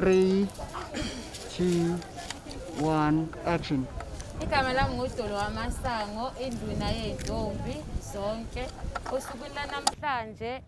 Three, two, one, action. Igama lami nguDolo wamasango induna yezintombi zonke. Osukwini lanamhlanje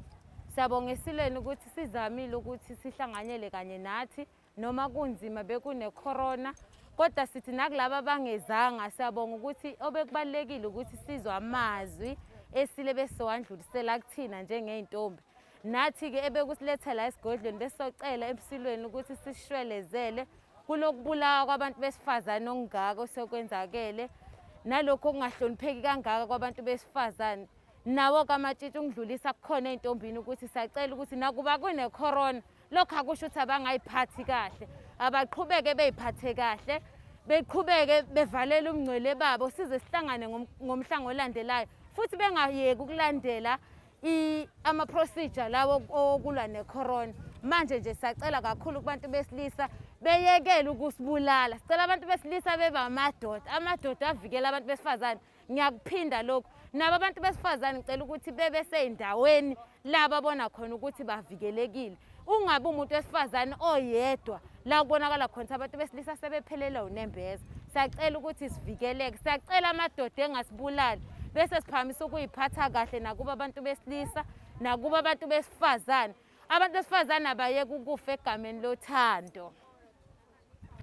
siyabonga esilweni ukuthi sizamile ukuthi sihlanganyele kanye nathi noma kunzima bekune corona kodwa sithi nakulabo abangezanga siyabonga ukuthi obekubalulekile ukuthi sizwe amazwi esile besowandlulisela kuthina njengey'ntombi Nathi-ke ebekusiletha la esigodlweni besizocela emsulweni ukuthi sishwelezele kunokubulawa kwabantu besifazane okungaka osekwenzakele nalokhu okungahlonipheki kangaka kwabantu besifazane nawo kamatshitshi ungidlulisa kukhona ey'ntombini ukuthi sacela ukuthi nakuba kunekhorona lokhu akusho ukuthi abangayiphathi kahle abaqhubeke beyiphathe kahle beqhubeke bevalela umngcwele babo size sihlangane ngomhlango olandelayo futhi bengayeki ukulandela ama-procedure lawo okulwa necorona manje nje sacela kakhulu kubantu besilisa beyekele ukusibulala sicela abantu besilisa beba amadoda amadoda avikela abantu besifazane ngiyakuphinda lokhu nabo abantu besifazane ngicela ukuthi bebe sey'ndaweni la babona khona ukuthi bavikelekile Ungabi umuntu wesifazane oyedwa la kubonakala khona abantu besilisa sebephelelwa unembeza. Siyacela ukuthi sivikeleke. Siyacela amadoda engasibulali bese siphakamisa ukuyiphatha kahle nakuba abantu besilisa nakuba abantu besifazane. Abantu besifazane abayeke ukufa egameni lothando.